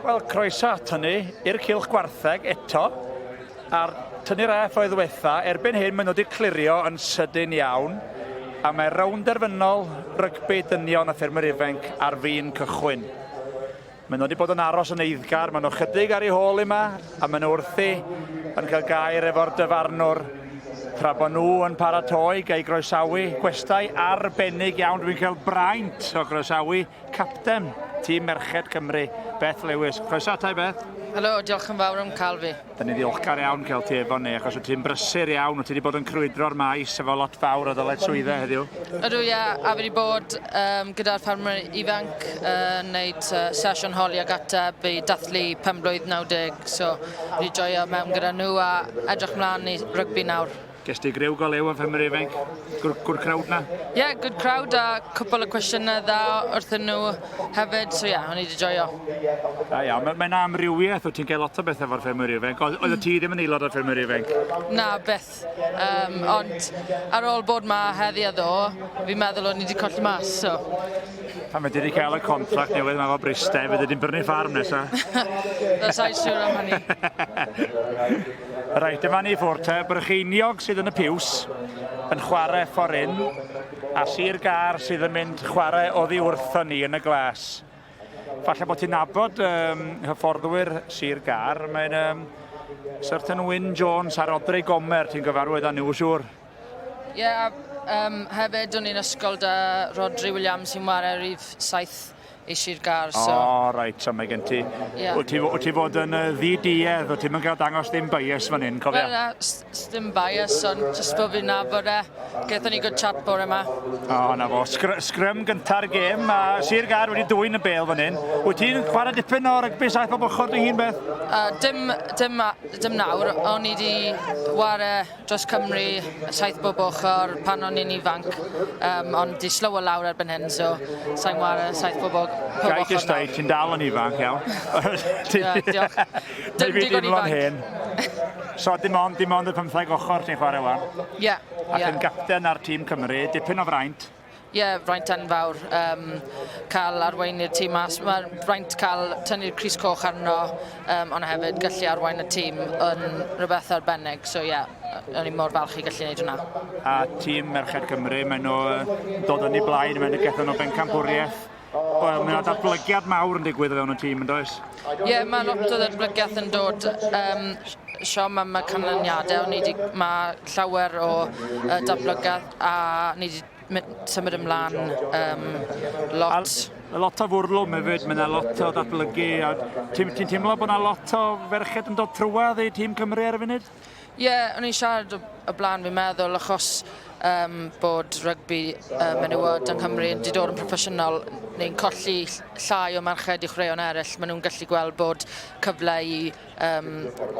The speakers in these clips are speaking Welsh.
Wel, croeso at hynny i'r cylch gwartheg eto. A'r tynnu'r AF oedd ddiwetha, erbyn hyn maen nhw wedi clirio yn sydyn iawn. A mae rownd derfynol rygbi dynion a ffermwyr ifanc ar fin cychwyn. Maen nhw wedi bod yn aros yn eiddgar, maen nhw chydig ar ei hôl yma, a maen nhw wrthi yn cael gair efo'r dyfarnwr tra bod nhw yn paratoi gael groesawu gwestai arbennig iawn. Dwi'n cael braint o groesawu Capten tîm merched Cymru, Beth Lewis. Croeso atai, Beth. Helo, diolch yn fawr am cael fi. Da ni ddiolchgar iawn cael ti efo ni, achos wyt ti'n brysur iawn, wyt ti wedi bod yn crwydro'r maes efo lot fawr o ddyled swyddau heddiw. Ydw, ia, a fi wedi bod um, gyda'r ffarmwyr ifanc yn uh, wneud uh, sesiwn holi ac ateb i dathlu pen blwydd 90, so fi wedi joio mewn gyda nhw a edrych mlaen i rygbi nawr. Ges ti greu gol eu yn Ffermwyr Ifainc? Good, good crowd na? Ie, yeah, good crowd a cwpl o cwestiynau dda wrthyn nhw hefyd, so ie, yeah, o'n i wedi joio. Da iawn, mae'n mae amrywiaeth, wyt ti'n cael lot o bethau efo'r Ffermwyr Ifainc, oedd mm. ti ddim yn aelod o'r Ffermwyr Ifainc? Na, beth. Um, ond ar ôl bod ma heddi a ddo, fi'n meddwl o'n i wedi colli mas, so... Pan mae wedi cael y contract newydd mae fo bristau, fe ddim brynu ffarm nesaf. That's I sure am hynny. Reit, dyma ni ffwrdd te. Brycheiniog sydd yn y piws yn chwarae fforin a Sir Gar sydd yn mynd chwarae oddi wrthon ni yn y glas. Falle bod ti'n nabod um, hyfforddwyr Sir Gar. Mae'n um, Certain Wyn Jones a Rodri Gomer, ti'n gyfarwydd â nhw siŵr? Ie, yeah, um, hefyd o'n i'n ysgol da Rodri Williams sy'n wario rif 7 es i'r gar, so... O, oh, reit, so mae gen ti... Yeah. Wyt ti, wyt ti fod yn uh, ddi-duedd, wyt ti'n mynd gael dangos dim bias fan hyn, cofio? Wel, na, dim bias, ond jyst bod fi'n nabod e. Gaethon ni good chat bore yma. O, oh, na fo. Sgr sgrym gynta'r gêm, a Sir Gar wedi dwy'n y bel fan hyn. Wyt ti'n chwarae dipyn o rygbi saith o bochod dy hun, beth? Uh, dim, dim, dim nawr, o'n i wedi ware dros Cymru, saith bob ochr pan o'n i'n ifanc, um, ond di slower lawr erbyn hyn, so sa'n war saith bob ochr. Gai ti stoi, ti'n dal yn ifanc, iawn. yeah, diolch. Dim digon ifanc. Hen. So dim ond, dim ond y pymtheg ochr ti'n chwarae wan? Ie. Yeah, Ac yeah. yn gapten ar tîm Cymru, dipyn o fraint. Ie, fraint enfawr um, cael arweinu'r tîm mas. Mae fraint cael tynnu'r Cris Coch arno, um, ond hefyd gallu arwain y tîm yn rhywbeth arbennig. So ie, yeah, o'n i mor falch i gallu gwneud hwnna. A tîm Merched Cymru, maen nhw dod yn ei blaen, maen nhw gethan nhw bencampwriaeth Wel, mae yna datblygiad mawr yn digwydd o fewn y tîm, yn does? Ie, yeah, mae lot o ddatblygiad yn dod. Um, siom am y canlyniadau, ni di, mae llawer o uh, datblygiad a ni wedi symud ymlaen um, lot. A lot o fwrlwm hefyd, mae yna lot o ddatblygu. Ti'n ti teimlo bod yna lot o ferched yn dod trwad i tîm Cymru ar y funud? Ie, o'n i'n siarad o blaen fi'n meddwl achos um, bod rygbi um, menywod yng Nghymru yn dod yn proffesiynol, ni'n colli llai o merched i chwaraeon eraill. Maen nhw'n gallu gweld bod cyfle i um,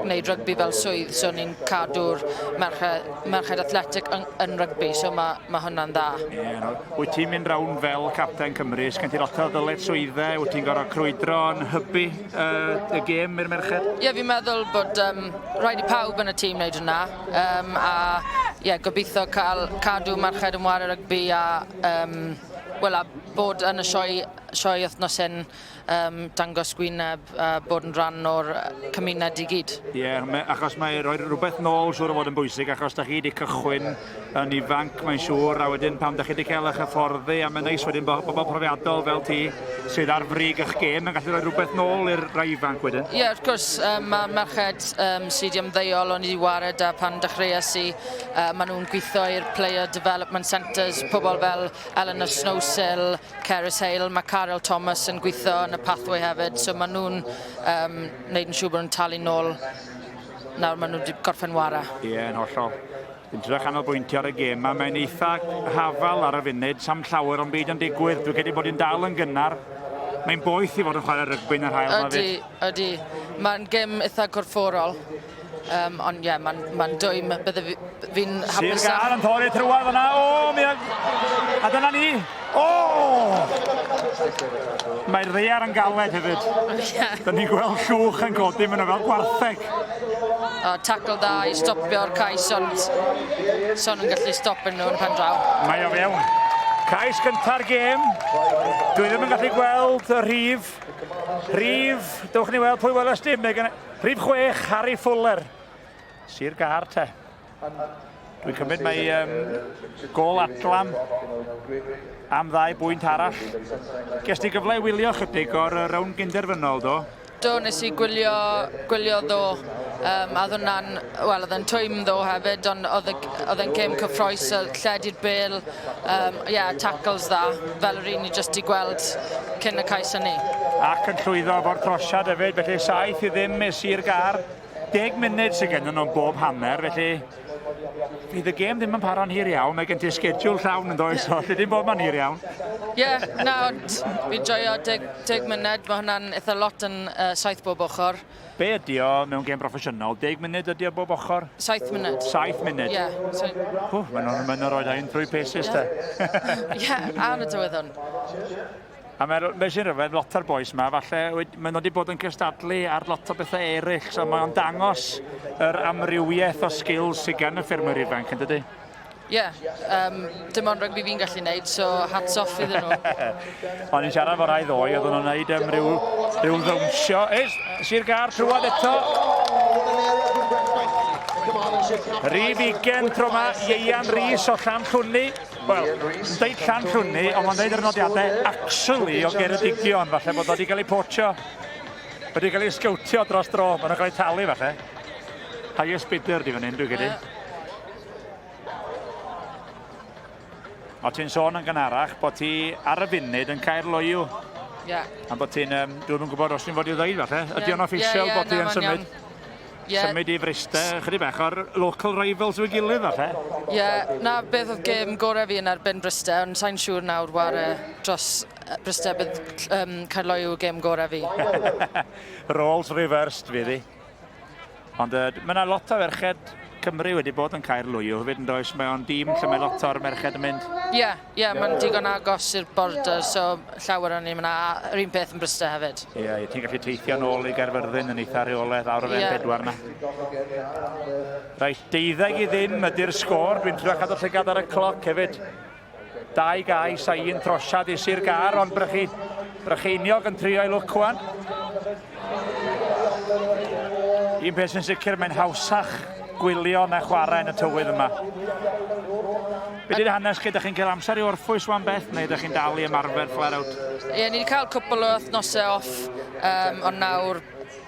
wneud rygbi fel swydd, so ni'n cadw'r merched, merched athletic yn, yn rygbi, so mae, mae hwnna'n dda. Ie, no. Wyt ti'n mynd rawn fel capten Cymru, sgen ti lot o ddyled swyddau, wyt ti'n gorau crwydro yn hybu uh, y gêm i'r merched? Ie, yeah, fi'n meddwl bod um, rhaid i pawb yn y tîm wneud hwnna. Um, a ie, yeah, gobeithio cael cadw merched yn wario rygbi a, um, well, a bod yn y sioe, sioe wythnos hyn um, dangos gwyneb a bod yn rhan o'r cymuned i gyd. Ie, yeah, achos mae rhoi rhywbeth nôl siwr o fod yn bwysig achos da chi wedi cychwyn yn ifanc mae'n siŵr a wedyn pan 'da chi 'di cael eich hyfforddi a mae'n neis wedyn bod bobl profiadol fel ti sydd ar frig eich gêm yn gallu rhoi rhywbeth nôl i'r rai ifanc wedyn. Ie yeah, wrth gwrs um, mae merched um, sydd wedi ymddeol o'n i wedi wared a pan dechreuais i uh, maen nhw'n gweithio i'r Player Development Centres pobl fel Eleanor Snowsill, Cerys Hale, mae Carol Thomas yn gweithio yn y Pathway hefyd so maen nhw'n um, neud yn siŵr bod nhw'n talu nôl nawr maen nhw wedi gorffen wara. Ie, yn hollol. Dra chanolbwyntio ar y gêm 'ma, mae'n eitha hafal ar y funud, sam llawer o'n byd yn digwydd, dwi'n credu bod hi'n dal yn gynnar. Mae'n boeth i fod yn chwarae rygbi yn yr hael ma fyd. Ydy, ydy. Mae'n gêm eitha corfforol. Um, ond ie, yeah, mae'n ma dwym, bydde fi'n hapus... Sir Gar yn torri trwad fyna, o, mi... A dyna ni, Oh! Mae'r ddear yn galed hefyd. Dyna ni'n gweld llwch yn codi, maen nhw fel gwartheg. O, tackle da i stopio'r cais, ond son yn gallu stopio nhw yn pen draw. Mae o fewn. Cais gynta'r gêm. Dwi ddim yn gallu gweld y rhif. Rhif, dewch ni weld pwy weles dim. Rhif chwech, Harry Fuller. Sir Gar te. Dwi'n cymryd mae um, gol adlam am ddau bwynt arall. Ges ti gyfle i wylio chydig o'r rown gynderfynol, do? Do, nes i gwylio, gwylio ddo, um, a ddwna'n, wel, oedd yn twym ddo hefyd, ond oedd yn cym cyffroes, lled i'r bel, um, yeah, tackles dda, fel yr un i jyst i gweld cyn y cais hynny. Ac yn llwyddo fo'r trosiad hefyd, felly saith i ddim i Sir Gar. 10 munud sydd gennym nhw'n bob hanner, felly fydd y gêm ddim yn paro'n hir iawn, mae gen ti sgediwl llawn yn does, so lle dim bod ma'n hir iawn. Ie, yeah, na, ond fi joio 10, 10 munud, mae hwnna'n eitha lot yn uh, saith bob ochr. Be ydi o mewn gêm broffesiynol? 10 munud ydi o bob ochr? 7 munud. 7 munud? Ie. Yeah, so... Hw, mae'n rhoi ein trwy pesis yeah. te. Ie, yeah, ar y dyweddon. A mae'r... be' sy'n rhyfedd, lot o'r bois 'ma falle wed- ma' nw 'di bod yn cystadlu ar lot o bethe eryll, so mae o'n dangos yr amrywieth o sgils sy gan y ffermwyr ifanc, yndydi? Ie, yym, dim ond rygbi fi'n gallu neud, so hats off iddyn nhw. O'n i'n siarad efo rai ddoe, oedden nhw'n neud yym ryw ryw ddawnsio. Is, Sir Gâr trwad eto. Rhydd ugen tro 'ma, Ieuan Rees o Llanllwni. Wel, yn deud Llanllwni, ond mae'n deud yr nodiadau actually o Geredigion, falle bod o wedi cael ei potsio, wedi cael ei sgowtio dros dro, bod nhw'n cael ei talu falle. Highest bidder di fan hyn, dwi'n credu. O ti'n sôn yn gynharach bod ti ar y funud yn cael loiw. Ie. Yeah. A bod ti'n, um, dwi'n gwybod os ti'n fod i ddweud falle, ydy o'n official bod ti yn symud? Ie. Symud i Fryste, chydig bach o'r local rivals i'w gilydd falle? Ie, 'na beth oedd gêm gorau fi yn erbyn Bryste, ond sain siŵr nawr ware dros Bryste bydd um, Caerloyw y gêm gorau fi. Roles reversed fydd hi. Ond uh, mae yna lot o ferched Cymru wedi bod yn Caerloyw hefyd yn does? Mae o'n dîm lle mae lot o'r merched yn mynd. Ie, yeah, Ie, mae'n digon agos i'r border, so llawer o'n ni'n mynd a yr un peth yn Bryste hefyd. Ie, yeah, ti'n gallu teithio nôl i Gaerfyrddin yn eitha rheoledd awr o fewn yeah. pedwar na. Rhaid, deuddeg i ddim ydy'r sgôr, dwi'n trio cadw llygad ar y cloc hefyd. Dau gais a un trosiad i Sir Gar, ond brychu, brycheiniog yn trio i lwc wan. Un peth sy'n sicr, mae'n hawsach gwylio na chwarae yn y tywydd yma. Be di'r hanes chi? Ydych chi'n cael amser i orffwys wan beth, neu ydych chi'n dal i ymarfer flare out? Ie, ni wedi cael cwpl o wythnosau off, um, ond nawr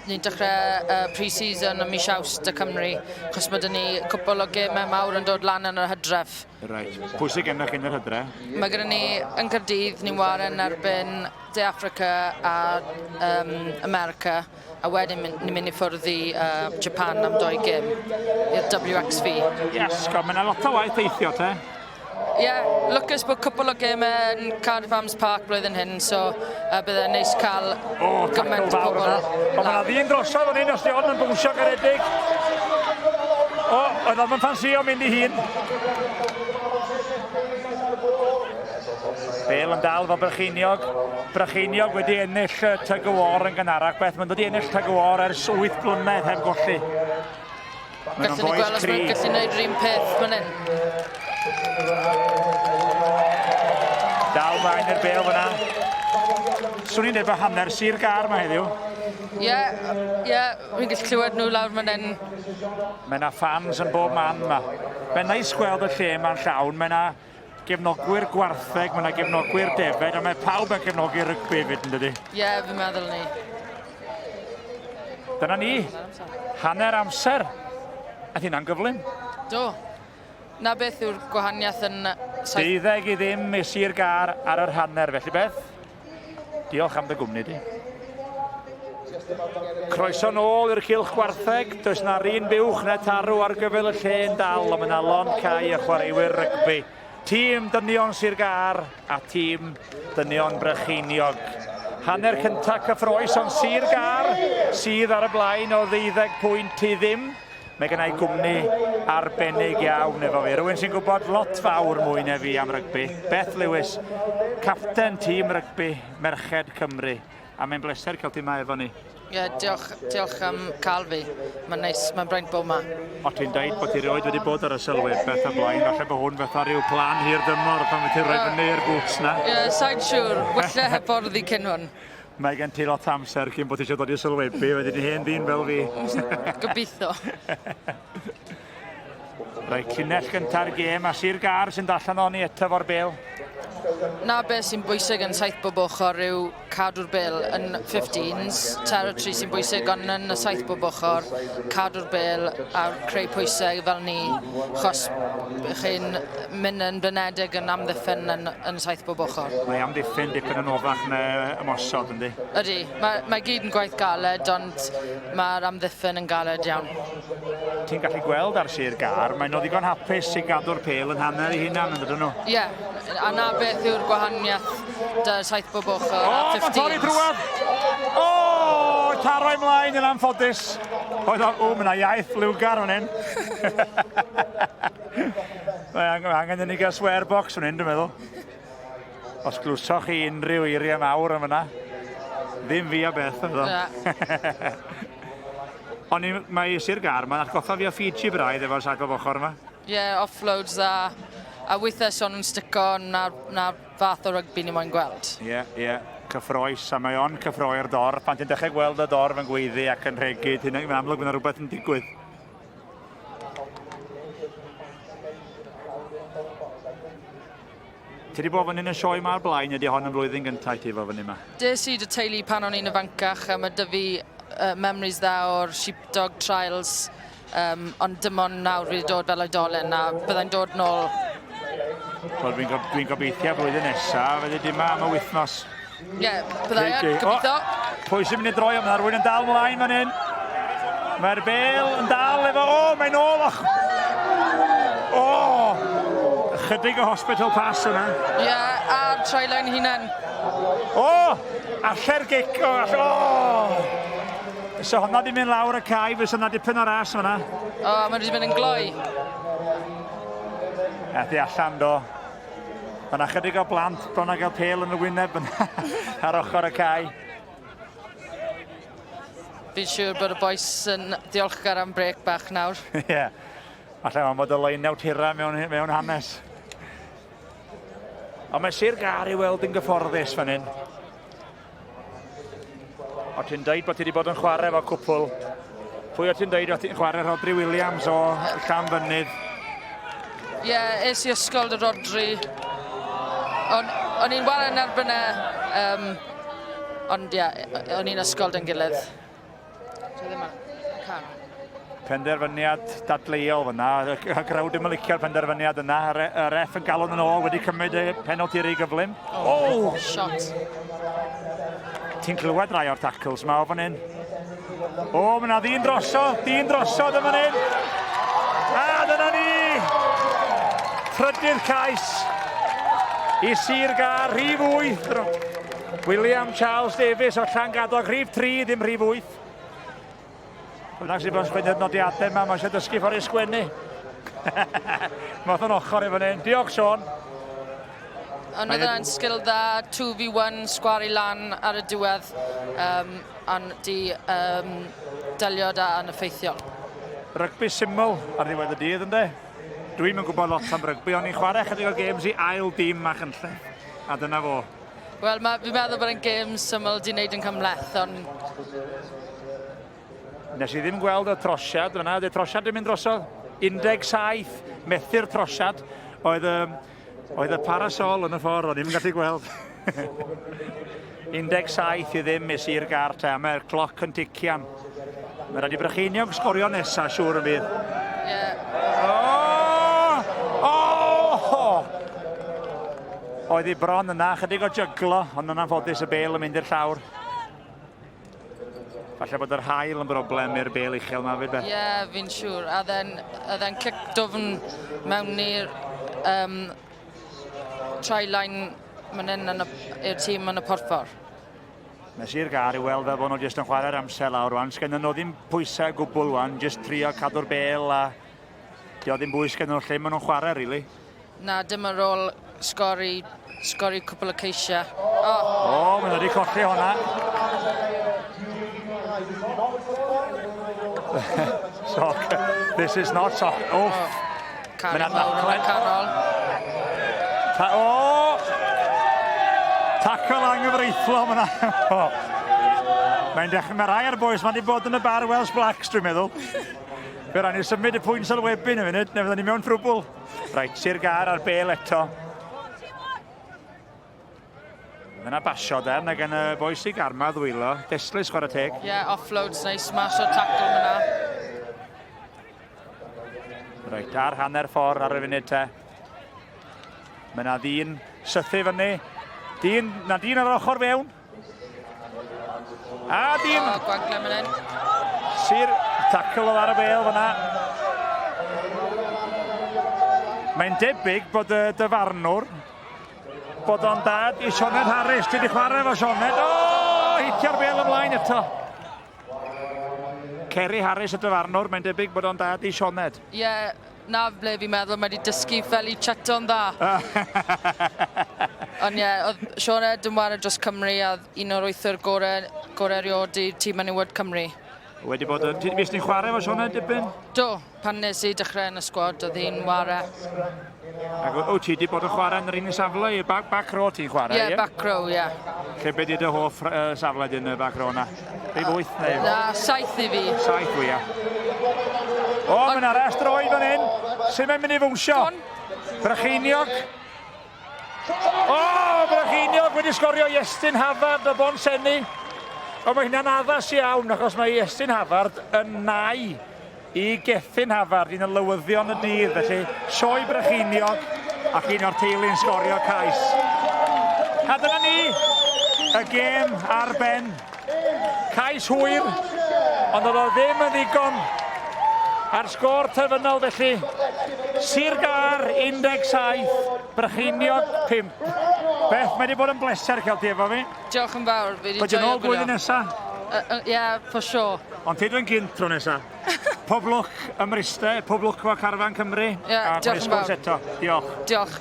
ni'n dechrau uh, pre-season ym mis Awst y Cymru, chos mae dyn ni cwpl o gemau mawr yn dod lan yn yr hydref. Right. Pwy sydd gennych yn yr hydref? Mae gen ni yn Cyrdydd, ni'n waren erbyn De Affrica a um, America, a wedyn ni'n mynd i ffwrdd i uh, Japan am doi gym, i'r WXV. Yes, go, mae'n lot o waith eithio te. Ie, yeah, lwcus bod cwpl o gym yn Cardiff Arms Park blwyddyn hyn, so uh, bydde'n neis cael o, gymaint o bobl. O, mae'n ddyn drosodd o'n un os di hon yn bwysio garedig. O, oedd o'n ffansio mynd i hun. Bale yn dal fo Brycheiniog. Brycheiniog wedi ennill y Tug o War yn gynharach. Beth mae'n dod i ennill Tug o War ers 8 blynedd heb golli. Mae'n o'n boes cri. Gallwn ni gweld os mae'n gallu gwneud rhywun peth fan hyn. Dal flaen i'r bel fyna. Swn i'n dweud bod hanner sir gar mae heddiw. Ie, yeah, ie, yeah, fi'n gallu clywed nhw lawr fan hyn. Mae yna fans yn bob man yma. Mae'n neis gweld y lle mae'n llawn, mae yna Gefnogwyr gwartheg, mae yna gefnogwyr defed, a mae pawb yn cefnogi rygbi hefyd, yn dydy? Ie, yeah, fi'n meddwl ni. Dyna ni, hanner amser. A hynna'n gyflym. Do. Na beth yw'r gwahaniaeth yn... Deuddeg i ddim i Sir Gar ar yr hanner, felly beth? Diolch am dy gwmni di. Croeso nôl i'r cilch gwartheg. Does na run buwch na tarw ar gyfer y lle yn dal, ond mae na lon cau a chwaraewyr rygbi. Tîm dynion Sir Gar a tîm dynion Brycheiniog. Hanner cyntaf cyffroes ond Sir Gar sydd ar y blaen o ddeuddeg pwynt i ddim. Mae gen i gwmni arbennig iawn efo fi, rhywun sy'n gwybod lot fawr mwy na fi am rygbi, Beth Lewis, capten tîm rygbi merched Cymru, a mae'n bleser cael ti yma efo ni. Ie, yeah, diolch, diolch am cael fi. Mae'n neis, mae'n braint bod yma. O ti'n dweud bod ti rioed wedi bod ar y sylwyd beth o blaen, falle bod hwn fatha rhyw plan hir dymor pan wyt ti'n rhoi fyny i'r boots na? Ie, yeah, sa'n siŵr. Wella hyffordd i cyn hwn. Mae gen ti lot o amser cyn bod ti eisiau dod i'r sylwebu, wedi dy hen ddyn fel fi. Gobeithio. Rhaid llinell gyntaf i'r gêm a Sir Gar sy'n dallan o'n i eto fo'r bel. Na beth sy'n bwysig yn saith bob ochr yw cadw'r bel yn 15s. Territory sy'n bwysig ond yn y saith bob ochr, cadw'r bel a creu pwysau fel ni, chos chi'n Mae'n yn blinedig yn amddiffyn yn, yn saith bob ochr. Mae amddiffyn dipyn yn oddach na ymosod, yndi? Ydy. Mae, mae gyd yn gwaith galed, ond mae'r amddiffyn yn galed iawn. Ti'n gallu gweld ar sir gar, maen nhw ddigon hapus i gadw'r pel yn hanner ei hunan, yn dydyn nhw? Ie. Yeah. A na beth yw'r gwahaniaeth da saith bob ochr oh, a 15. O, mae'n torri drwad! O, oh, taro ymlaen yn anffodus. Oedd o, o, mae yna iaith liwgar o'n hyn. Mae angen, angen i ni gael swear box fan hyn, dwi'n meddwl. Os glwsoch chi unrhyw eiriau mawr yn fyna, ddim fi a beth yn fyddo. Ond ni, mae Sir Gar, mae'n atgoffa fi o Fiji braidd efo'r sagol fochor yma. Ie, yeah, offloads a, a weithiau son nhw'n stico na, na fath o rygbi ni moyn gweld. Ie, yeah, ie. Yeah cyffroes, a mae o'n cyffroi'r dor. Pan ti'n dechrau gweld y dor fe'n gweiddi ac yn rhegyd, hyn yn amlwg bod yna rhywbeth yn digwydd. Ti wedi bod yn un y sioe yma o'r blaen, ydy hon yn flwyddyn gyntaf i ti fod fyny yma? Des i dy teulu pan o'n i'n ifancach a mae dy fi uh, memories dda o'r sheepdog trials um, ond dim ond nawr fi wedi dod fel oedolyn a byddai'n dod nôl Wel, dwi'n gob, dwi gobeithio blwyddyn nesaf, fyddi di yma am y wythnos. Ie, bydda i ar, gobeithio. Pwy sy'n mynd i droi o? Mae rhywun yn dal mlaen fan hyn. Mae'r bel yn dal efo... O, mae'n ôl o'ch... O! Chydig o hospital pass yna. Ie, a'r trailine hunan. O! Alle'r gic... O! Alle... O! So hwnna di mynd lawr y cae, fes yna dipyn o ras yna. O, mae'n rhywun yn gloi. Ethi allan do. Mae yna chydig o blant bron a gael pel yn y wyneb yn ar ochr y cae. Fi'n siŵr bod y boes yn diolchgar am brec bach nawr. Ie. yeah. Alla am bod y leiniau tira mewn, mewn hanes. Ond mae Sir Gar i weld yn gyfforddus fan hyn. O ti'n dweud bod ti wedi bod yn chwarae fo cwpl? Pwy o ti'n dweud o ti'n chwarae Rodri Williams o Llan Fynydd? Ie, yeah, es i ysgol dy Rodri. O'n i'n waran erbyn e, um, ond ie, yeah, o'n i'n ysgol dyn gilydd. Penderfyniad dadleuol fyna. Y grawd ddim yn licio'r penderfyniad yna. Y ref yn galon yn ôl wedi cymryd y penalty rei gyflym. O! Oh! Shot. Ti'n clywed rai o'r tackles yma o fan hyn. O, oh, mae yna ddyn drosodd, ddyn drosodd yn fan hyn. A dyna ni! Trydydd cais i Sir Gar, rhif 8. William Charles Davies o Llangadog, rhif 3, ddim rhif 8. Bynnag sy'n bod sgwennu'r nodiadau yma, mae eisiau dysgu ffordd i sgwennu. Mae o'n ochr i fan hyn. Diolch, Sean. Ond oedd yna'n sgil dda, 2v1, sgwari lan ar y diwedd, um, ond di um, delio da yn effeithiol. Rygbi syml ar ddiwedd y dydd, ynddo? Dwi'n yn gwybod lot am rygbi, ond i'n chwarae chydig o games i ail dim a chynllun. A dyna fo. Wel ma' fi'n meddwl bod e'n gêm syml 'di neud yn cymhleth on'... Nes i ddim gweld y trosiad fan 'na. Ydi'r trosiad 'di mynd drosodd? 17 methu'r trosiad. Oedd y oedd y parasol yn y ffordd, o'n i'm yn gallu gweld. 17 i ddim i Sir Gar te, a mae'r cloc yn tician. Mae'n rhaid i Brycheiniog sgorio nesaf, siŵr yn fydd. Yeah. Oh! Oh! Oedd hi bron yna, chydig o jyglo, ond yna'n ffodus y bel yn mynd i'r llawr. Falle bod yr hael yn broblem i'r bel uchel yma fyd beth? Ie, yeah, fi'n siŵr. A then, a then cic dofn mewn i'r um, try line mynd yn y, i'r tîm yn y porffor. Nes i'r gar i weld fel bod nhw jyst yn chwarae'r amser lawr rwan. Sgennyn nhw ddim pwysau gwbl rwan, jyst trio cadw'r bel a di o ddim bwys sgennyn nhw lle maen nhw'n chwarae, really. Na, dim yn rôl sgori, sgori cwbl y ceisiau. O, oh. oh, maen nhw wedi colli hwnna. Soc, this is not soc. Oh. Cari mawr yn y canol. Ta o! Tacl anghyfreithlon fyna. Mae'n dechrau, mae rhai ar boes, mae wedi bod yn y bar Welsh Blacks, dwi'n meddwl. Fe rhaid ni symud y pwynt sylwebyn y funud, neu fydden ni mewn trwbl. Rhaid, Sir Gar ar bel eto. Mae yna basio de, mae gen y boi sy'n garma ddwylo. Destlus chwarae teg. Ie, yeah, offloads neu smash o tackle yna. Reit, ar hanner ffordd ar y funud te. Mae yna ddyn sythu fyny. Dyn, na dyn ar ochr fewn. A dim! O, gwagle man hyn. Sir tackle o ar y bel fyna. Mae'n debyg bod y dyfarnwr bod o'n dad i Sioned Harris. Dwi wedi chwarae fo Sioned. O, hitio'r bel ymlaen eto. Ceri Harris y dyfarnwr, mae'n debyg bod o'n dad i Sioned. Ie, yeah, 'na ble fi'n meddwl mae 'di dysgu fel i chato'n dda. Ond ie, oedd Shaun Edwards yn ware dros Cymru a oedd un o'r wythwr gore, gore erioed i tîm menywod Cymru. Wedi bod yn... Ti wedi bod chwarae efo Shaun Edwards dipyn? Do, pan nes i dechrau yn y sgwad, oedd hi'n ware. Ac o, ti wedi bod yn chwarae yn yr un safle, back, back row ti'n chwarae? Ie, yeah, back row, ie. Yeah. Lle beth ydy dy hoff uh, safle dyn y back row na? Prif wyth neu? Na, saith i fi. Saith fwy, ia. O, mae yna rest roi fan hyn. Sut mae'n mynd i fwnsio? Brycheiniog. O, Brycheiniog wedi sgorio Iestyn Havard o Bon Senni. O, mae hynna'n addas iawn, achos mae Iestyn Havard yn nai Y Gethin Havard, un o lywyddion y dydd felly, Sioe Brycheiniog ac un o'r teulu'n sgorio cais. A dyna ni, y gêm ar ben. Cais hwyr, ond oedd o ddim yn ddigon ar sgôr terfynol felly. Sir Gar 17, Brycheiniog 5. Beth, mae wedi bod yn bleser cael ti efo fi. Diolch yn fawr, fi wedi joio gwylio. Pwy dyn ôl blwyddyn nesaf? Ie, yeah, for sure. Ond ti dwi'n gynt tro nesa. Pob lwc ym Mryste, pob lwc efo Carfan Cymru. Ie, diolch yn fawr. eto. Diolch. Diolch.